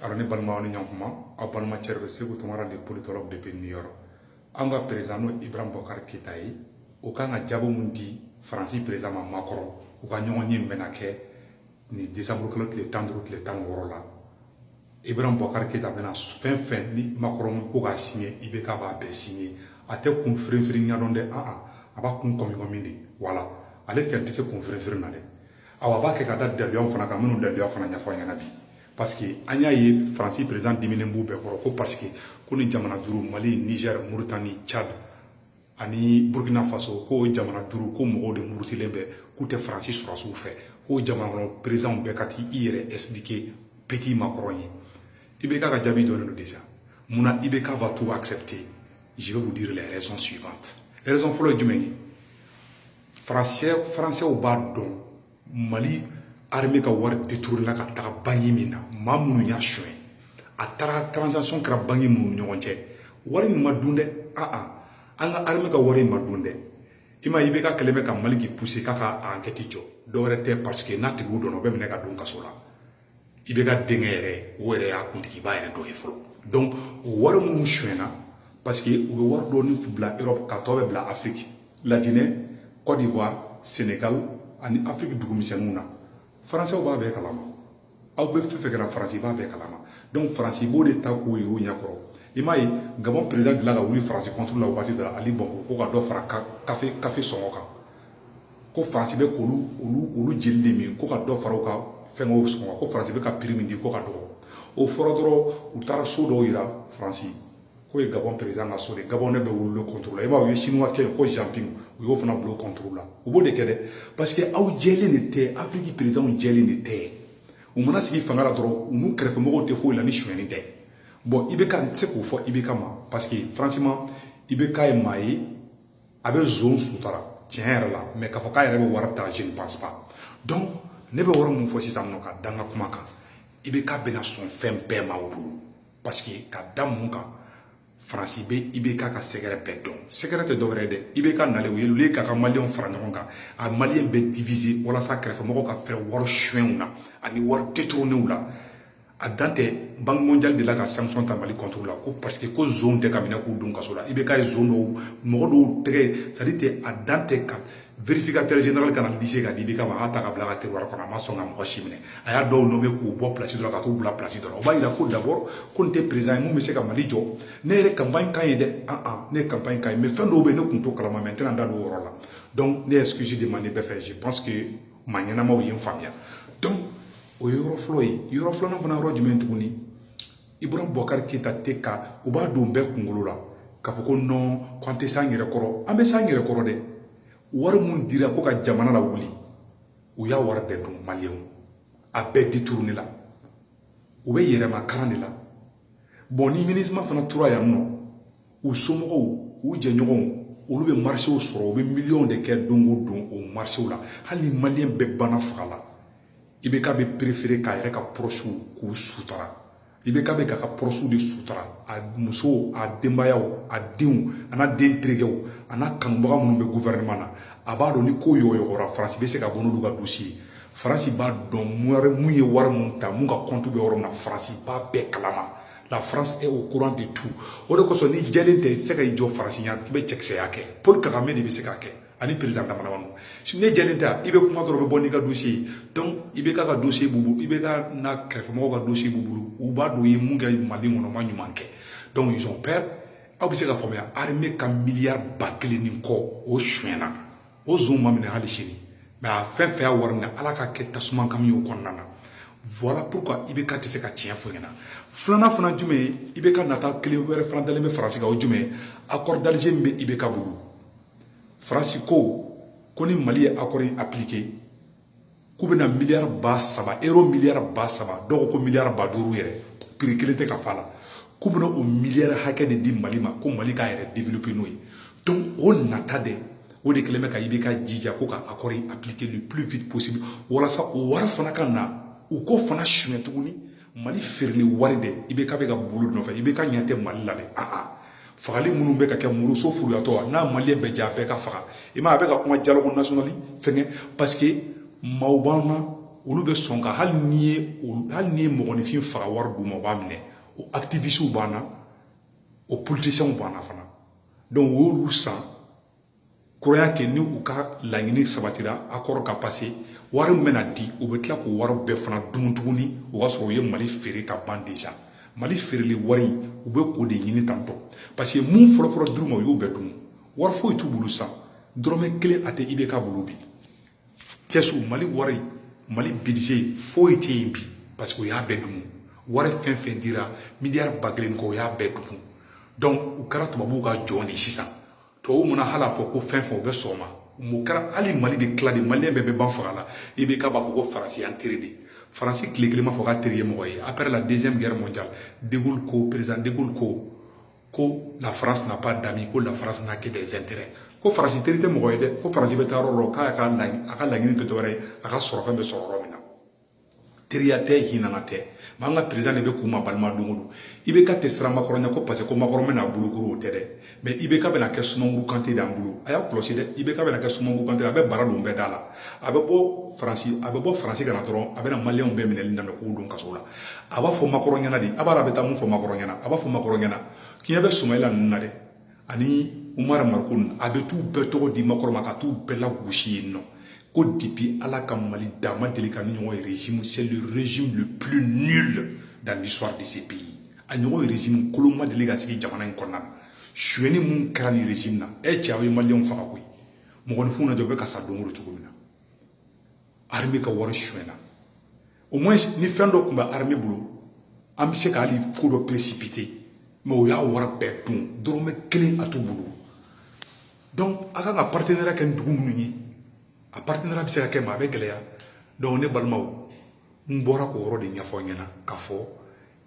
alors ne balimaw ni ɲɔgɔnma aw balimacɛ bɛ seku tunkara le politologue depuis new york an ka perezidan n'o ibrahim bubakari keyita ye o kan ka jaabi mun di faransi perezidan ma makɔrɔn u ka ɲɔgɔnye bɛna kɛ nin desanburu kalo tile tan duuru tile tan wɔɔrɔ la ibrahim bubakari keyita bɛna fɛn o fɛn ni makɔrɔn min ko k'a siɲɛ IBK b'a bɛɛ siɲɛ a tɛ kun firinfirin ɲa dɔn dɛ a a b'a kun kɔmikɔmi de wala ale tɛ tɛ se kun firinfirin na dɛ awa a b'a kɛ ka da daliluyaw fana kan minnu daliluya fana ɲɛfɔ aw ye bi parce que an y'a ye faransi perezidan diminen b'u bɛɛ kɔrɔ ko parce que ko ni jamana duuru mali niger moritani tchad ani burkina faso ko jamana duuru ko mɔgɔw de murutilen bɛ k'u tɛ faransi sɔrɔdasiw fɛ k'o jamana kɔnɔ perezidanw bɛɛ ka t'i yɛrɛ expliquer petit makɔrɔn ye IBK ka jaabi dɔnnen don déjà mun na IBK va tout accepter je vais vous dire les raisons suivantes raison fɔlɔ ye jumɛn ye faransɛ faransɛw b'a dɔn mali arme ka wari deturunna ka taga banki min na maa minnu y'a sonyɛ a taara transaction kɛra banki minnu ni ɲɔgɔn cɛ wari min ma dun dɛ aa an ka arme ka wari ma dun dɛ i ma IBK kelen bɛ ka mali k'i pousser k'a ka enquête jɔ dɔwɛrɛ tɛ parce que n'a tigiw dɔnna o bɛ minɛ ka don kaso la IBK denkɛ yɛrɛ o yɛrɛ y'a kuntigiba yɛrɛ dɔ ye fɔlɔ donc o wari minnu sonyɛna parce que u bɛ wari dɔɔni bila Europe k'a tɔ bɛɛ bila Afrique La Guinée Côte d'Ivoire Sénégal ani Afrique dugu misɛnninw na Français b'a bɛɛ kalama a bɛɛ fɛn o fɛn kɛra Faransi b'a bɛɛ kalama donc Faransi b'o de ta k'o yir'u ɲɛkɔrɔ i m'a ye Gabon président delila ka wuli Faransi contre la waati dɔ la Ali Bongo ko ka dɔ fara kafe kafe sɔngɔ kan ko faransi bɛ k'olu olu olu jeli de min ko ka dɔ fara u ka fɛnkɛw sɔngɔ kan ko faransi bɛ ka prix min di k'o ka dɔgɔ o fɔra dɔrɔn u taara so dɔw yira faransi k'o ye gabɔn perezidan ka so de ye gabɔnɛw bɛɛ wuli a contre la i b'a ye u ye sinuwakɛ yen ko jean ping u y'o fana bila o contre la u b'o de kɛ dɛ parce que aw jɛlen de tɛ afiriki perezidanw jɛlen de tɛ u mana sigi fanga la dɔrɔn u n'u kɛrɛfɛmɔgɔw tɛ foyi la ni sonyɛni tɛ bon i bɛ ka se k'o fɔ IBK ma parce que franchement IBK ye maa ye a bɛ zon sutura tiɲɛ yɛrɛ la mais k'a fɔ k'a yɛrɛ bɛ wari ta je ne pense pas donc ne bɛ yɔrɔ min fɔ sisan in aw ka da n ka kuma kan IBK bɛna sɔn fɛn bɛɛ ma o bolo parce que ka da mun kan faransi bɛ IBK ka secret bɛɛ dɔn secret tɛ dɔwɛrɛ ye dɛ IBK nalen au lieu k'a ka maliyɛnw fara ɲɔgɔn kan a maliyɛnw bɛɛ diviser walasa kɛrɛfɛmɔgɔw ka fɛrɛ wari sonyɛw na ani wari détourner la a dan tɛ banque mondiale de la ka sanction ta mali contre la ko parce que ko zon tɛ ka minɛ k'u don kaso la IBK ye zon dɔw mɔgɔ dɔw tɛgɛ sadi tɛ a dan tɛ ka vérificateur général ka na dossier ka di IBK ma a ta k'a bila a ka tiroir kɔnɔ a ma sɔn ka mɔgɔ si minɛ a ye dɔw nommer k'u bɔ plasi dɔ la k'u bila plasi dɔ o b'a jira ko d'abord ko nin tɛ perezidan ye min bɛ se ka mali jɔ ne yɛrɛ kanpaɲi k'a ye dɛ aa ne ye kanpaɲi k'a ye mais fɛn dɔw bɛ yen ne tun t'o kalama mais n tɛna da don o yɔrɔ la donc ne ye excuse demander bɛɛ fɛ je pense que maa ɲɛnamaw ye n faamuya donc o ye yɔrɔ fɔlɔ ye yɔrɔ filanan fana yɔrɔ jumɛn tuguni Ibrahim Boubacar Keïta tɛ ka u b'a don bɛɛ kunkolo la k'a fɔ ko nɔn k'an tɛ s'an yɛrɛ kɔrɔ an bɛ s'an yɛrɛ kɔrɔ dɛ wari min dira ko ka jamana lawuli u y'a wari bɛɛ dun maliyɛnw a bɛɛ détourner la u bɛ yɛrɛmakaran de la bɔn ni MINUSMA fana tora yan nɔ u somɔgɔw u jɛɲɔgɔnw olu bɛ marisew sɔrɔ u bɛ miliyɔnw de kɛ don o don o marisew la hali ni maliyɛn bɛɛ banna faga la IBK bɛ perefere k'a yɛrɛ ka pɔrɔsiw k'u sutara IBK bɛ k'a ka pɔrɔsiw de sutara a musow a denbayaw a denw an'a den terikɛw an'a kanubaga minnu bɛ gouvernement na a b'a dɔn ni ko yɔgɔyɔgɔra faransi bɛ se ka bɔ n'olu ka dossier ye faransi b'a dɔn min ye wari min ta min ka kɔntu bɛ yɔrɔ min na faransi b'a bɛɛ kalama la France est au courant de tout o de kosɔn n'i jɛlen tɛ i tɛ se ka i jɔ faransi ɲɛ i bɛ cɛkisɛya kɛ Paul Kagame de bɛ se k'a kɛ ani président dama dama ninnu n'i jɛlen tɛ i bɛ kuma dɔrɔn u bɛ bɔ n'i ka dossier ye donc IBK ka dossier b'u bolo IBK n'a kɛrɛfɛmɔgɔw ka dossier b'u bolo u b'a dɔn u ye mun kɛ Mali kɔnɔ u ma ɲuman kɛ donc ils ont peur aw bɛ se ka faamuya armée ka miliyari ba kelen ni kɔ o sonyɛna o zonw ma minɛ hali sini mɛ a fɛn fɛn y'a wari minɛ ala k'a kɛ tasuma kami o kɔnɔna na voilà pourquoi IBK tɛ se ka tiɲɛ fɔ u ɲɛna filanan fana jumɛn ye IBK nata kelen wɛrɛ fana dalen bɛ faransi kan o jumɛn ye accord d'alger min bɛ IBK bolo faransi ko ko ni mali ye accord in appliquer k'u bɛna miliyari ba saba ero miliyari ba saba dɔw ko miliyari ba duuru yɛrɛ piri kelen tɛ ka f'a la k'u bɛna o miliyari hakɛ de di mali ma ko mali k'a yɛrɛ développer n'o ye donc o nata de o de kɛlen bɛ ka IBK jija ko ka accord in appliquer le plus vite possible walasa o wari fana ka na u k'o fana suɲɛ tuguni mali feereli wari de IBK bɛ ka bol'o de nɔfɛ IBK ɲɛ tɛ mali la dɛ fagali minnu bɛ ka kɛ muruso furuyatɔ n'a maliyɛn bɛɛ ja bɛɛ ka faga i ma a bɛ ka kuma dialogue national fɛnkɛ paseke maaw b'an na olu bɛ sɔn ka hali n'i ye hali n'i ye mɔgɔninfin faga wari d'u ma u b'a minɛ o activistes b'an na o politiciens b'an na fana donc o y'olu san kuraya kɛ ni u ka laɲini sabatira accord ka pase wari min bɛna di u bɛ tila k'o wari bɛɛ fana dun tuguni o y'a sɔrɔ u ye mali feere ka ban deza mali feereli wari u bɛ k'o de ɲini tantɔ paseke min fɔlɔfɔlɔ d'u ma u y'o bɛɛ dun wari foyi t'u bolo san dɔrɔmɛ kelen a tɛ IBK bolo bi kɛsu mali wari mali budget foyi tɛ yen bi paseke u y'a bɛɛ dun wari fɛn fɛn dira miliyari ba kelen kɔ u y'a bɛɛ dun dɔnku u kɛra tubabuw ka jɔn de sisan tubabu mana hal'a fɔ ko fɛn fɛn u bɛ sɔn a ma mun kɛra hali mali de tilali maliyɛn bɛɛ bɛ ban faga la IBK b'a fɔ ko faransi y'an teri de faransi tile kelen m'a fɔ k'a teri ye mɔgɔ ye après la deuxième guerre mondiale de Gaulle ko président de Gaulle ko ko la France n'a pas d'amis ko la France n'a que des intérêts ko faransi teri tɛ mɔgɔ ye dɛ ko faransi bɛ taa yɔrɔ dɔ k'a ka a ka laɲini tɛ dɔwɛrɛ ye a ka sɔrɔfɛn bɛ sɔrɔ yɔrɔ min teriya tɛ hinana tɛ ma an ka perezidan de bɛ kuma balima don o don ibk tɛ siran makɔrɔn ɲa ko parce que ko makɔrɔn bɛna bolokoro o tɛ dɛ mais ibk bɛna kɛ sumaworo kante de an bolo a y'a kɔlɔsi dɛ ibk bɛna kɛ sumaworo kante a bɛ bara don bɛɛ da la a bɛ bɔ faransi a bɛ bɔ faransi ka na dɔrɔn a bɛna maliyɛnw bɛɛ minɛli daminɛ k'u don kaso la a b'a fɔ makɔrɔn ɲɛna de a b'a a bɛ taa mun fɔ makɔrɔn ɲɛna a b'a fɔ makɔrɔn ɲɛna k'i bɛ sumayila ninnu na dɛ ani umar mariko a bɛ t'u bɛɛ tɔgɔ di makɔrɔn ma ka t'u bɛɛ lagosi yen non ko depuis ala ka mali da ma deli k'a ɲɔgɔn ye régime c'est le régime le plus nul dans l'histoire de ce pays a ɲɔgɔn ye régime kolon ma deli ka sigi jamana in kɔnɔna na sonyɛni min kɛra nin régime na e cɛ aw ye maliyɛnw faga koyi mɔgɔninfinw na jɔ u bɛ ka sa don o don cogo min na armée ka wari sonyɛna au moins ni fɛn dɔ tun bɛ armée bolo an bɛ se ka hali ko dɔ précipiter mais o y'a wari bɛɛ dun dɔrɔmɛ kelen a t'u bolo donc a kan ka partenariat kɛ ni dugu minnu ye a partenariat bɛ se ka kɛ mais a bɛ gɛlɛya donc ne balimaw n bɔra k'o yɔrɔ de ɲɛfɔ aw ɲɛna k'a fɔ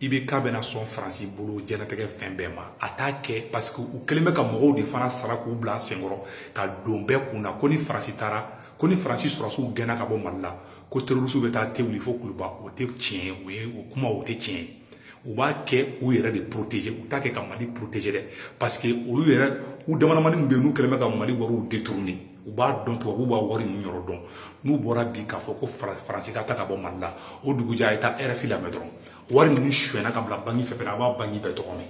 ibk bɛna sɔn faransi bolo jɛnatigɛ fɛn bɛɛ ma a t'a kɛ paseke u kɛlen bɛ ka mɔgɔw de fana sara k'u bila senkɔrɔ ka don bɛɛ kun na ko ni faransi taara ko ni faransi sɔrɔdasiw gɛnna ka bɔ mali la ko terorisiw bɛ taa te wuli fo kuluba o tɛ tiɲɛ ye o ye o kuma o tɛ tiɲɛ ye u b'a kɛ u yɛrɛ de protéger u t'a kɛ ka mali protéger dɛ parce que olu yɛrɛ u damadamanin min bɛ yen n'u kɛlen bɛ ka mali wariw détourner u b'a dɔn tubabuw b'a wari ninnu yɔrɔ dɔn n'u bɔra bi k'a fɔ ko faransi ka taa ka bɔ mali la o dugujɛ a ye taa rfi lamɛn dɔrɔn wari ninnu sonyɛna ka bila banki fɛn fɛn na a b'a banki bɛɛ tɔgɔ mɛn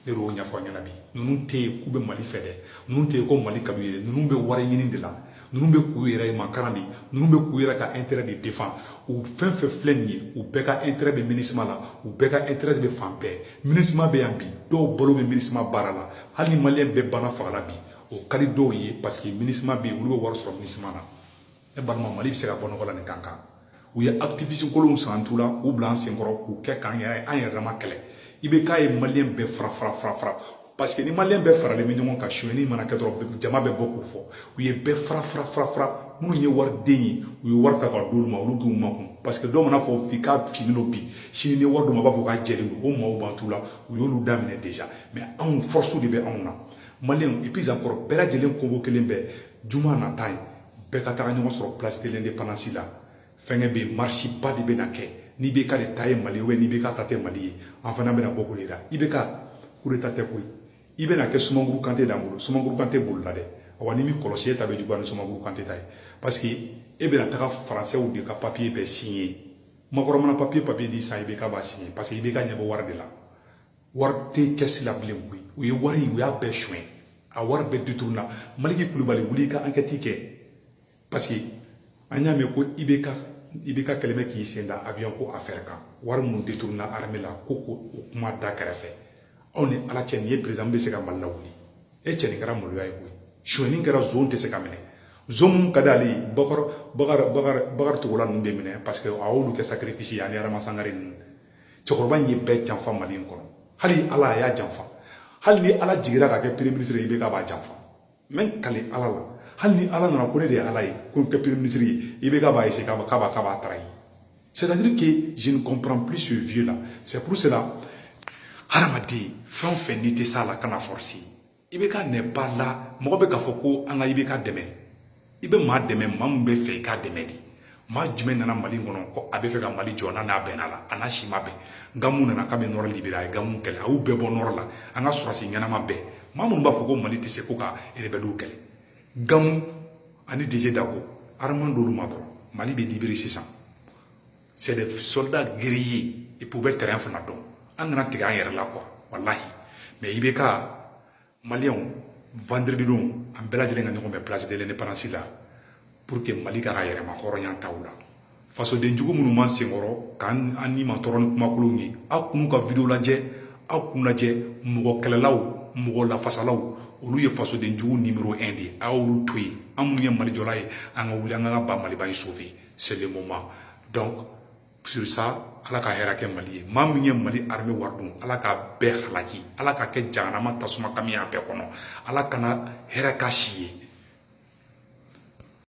ne y'o ɲɛfɔ a ɲɛna bi ninnu tɛ yen k'u bɛ mali fɛ dɛ ninnu tɛ yen ko mali ka d'u ye ninnu bɛ wari ɲini de la ninnu bɛ k'u yɛrɛ makaran de ninnu bɛ k'u yɛrɛ ka intérêt de défendu fɛn fɛn filɛ nin ye u bɛɛ ka intérêt bɛ minisima la u bɛɛ ka intérêt bɛ fan bɛɛ minisima bɛ yan bi dɔw balo bɛ minisima baara la hali ni maliyɛn bɛɛ banna faga la bi o ka di dɔw ye parce que minisima bɛ yen olu bɛ wari sɔrɔ minisima na ne balima mali bɛ se ka bɔ nɔgɔ la nin kan kan u ye activiste kolonw san tu la k'u bila an senkɔrɔ k'u kɛ k'an yɛrɛ an yɛrɛ ma kɛlɛ ibk ye maliyɛn bɛɛ fara fara fara fara parce que ni maliyɛn bɛɛ faralen bɛ ɲɔgɔn kan sonyɛni mana kɛ dɔrɔn jama bɛ bɔ k'o fɔ u ye bɛɛ fara fara fara fara minnu ye wari den ye u ye wari ta ka d'olu ma olu k'u makun parce que dɔw man'a fɔ bi k'a finnen don bi sini ni wari d'u ma b'a fɔ k'a jɛlen don o maaw b'an tu la u y'olu daminɛ déjà mais anw force de bɛ anw na maliyɛnw et puis zankɔrɔ bɛɛ lajɛlen kogo kelen bɛɛ juma nata ye bɛɛ ka taga ɲɔgɔn sɔrɔ place de l'independance la fɛnkɛ bɛ yen marisiba de bɛna kɛ ni ibk de ta ye mali ye ni ibk ta tɛ mali ye an fana bɛna bɔ k'o jira ibk kudeta tɛ koyi i bɛna kɛ sumankuru kante d'an bolo sumankuru kante bolila dɛ awa n'i m'i kɔlɔsi e ta bɛ juguya ni sumankuru kante ta ye parce que e bɛna taga faransɛw de ka papiye bɛɛ siɲɛ makɔrɔn mana papiye papiye n'i san ibk b'a siɲɛ parce que ibk ɲɛ bɛ wari de la wari tɛ kɛsi la bilen koyi u ye wari in u y'a bɛɛ suɲɛ a wari bɛɛ détourné na maliki kulubali wuli ka ankɛti kɛ parce que an y'a mɛn ko i bɛ ka i bɛ ka kɛlɛmɛ k'i sen da avion ko affaire kan wari minnu détourné na armée la ko ko o kuma da kɛrɛfɛ aw ni ala cɛ nin ye président bɛ se ka mali lawuli e cɛ nin kɛra maloya ye koyi suɲɛni kɛra zon tɛ se ka minɛ zon minnu ka d'ale ye bakar bakar bakar bakari togola ninnu bɛ minɛ parce que a y'olu kɛ sacrifice ye ani adama sangare ninnu cɛkɔrɔba in ye bɛɛ janfa mali in kɔnɔ hali ala a y'a janfa hali ni ala jigira ka kɛ premier ministre ye ibk b'a janfa n bɛ kali ala la hali ni ala nana ko ne de ye ala ye ko n kɛ premier ministre ye ibk b'a essayer k'a b'a k'a b'a trahir c'est à dire que je ne comprends plus ce vieux là c'est pour cela hadamaden fɛn o fɛn n'i tɛ s'a la kan'a forcer ibk nɛ ba la mɔgɔ bɛ k'a fɔ ko an ka ibk dɛmɛ i bɛ maa dɛmɛ maa min b'a fɛ i k'a dɛmɛ de maa jumɛn nana mali kɔnɔ ko a b'a fɛ ka mali jɔ n'a n'a bɛnna la a n'a si ma bɛn gamu nana k'a bɛ nɔrɔ libérer a ye gamu kɛlɛ a y'u bɛɛ bɔ nɔrɔ la an ka sɔrɔdasi ɲɛnama bɛɛ maa minnu b'a fɔ ko mali tɛ se ko ka rebɛliw kɛlɛ gamu ani didier dako armement d'olu ma dɔrɔn mali bɛ libérer sisan c'est des soldats guerriers et puis u bɛ terrain fana dɔn an kana tigɛ an yɛrɛ la quoi walahi mais ibk maliyɛnw vendredi don an bɛɛ lajɛlen ka ɲɔgɔn bɛn place de l'indépendance la pour que mali k'a ka yɛrɛmahɔrɔnya t'aw la fasoden jugu minnu b'an senkɔrɔ k'an an nimatɔɔrɔ ni kumakolonw ye aw kan'u ka video lajɛ aw kan'u lajɛ mɔgɔ kɛlɛlaw mɔgɔ lafasalaw olu ye fasoden jugu nimero 1 de ye a y'olu to yen an minnu ye malijɔla ye an ka wuli an ka ka ba maliba in sauver seulement donc sur ça ala ka hɛrɛ kɛ mali ye maa min ye mali armée wari dun ala k'a bɛɛ halaki ala ka kɛ jahanama tasuma kami a bɛɛ kɔnɔ ala kana hɛrɛ k'a si ye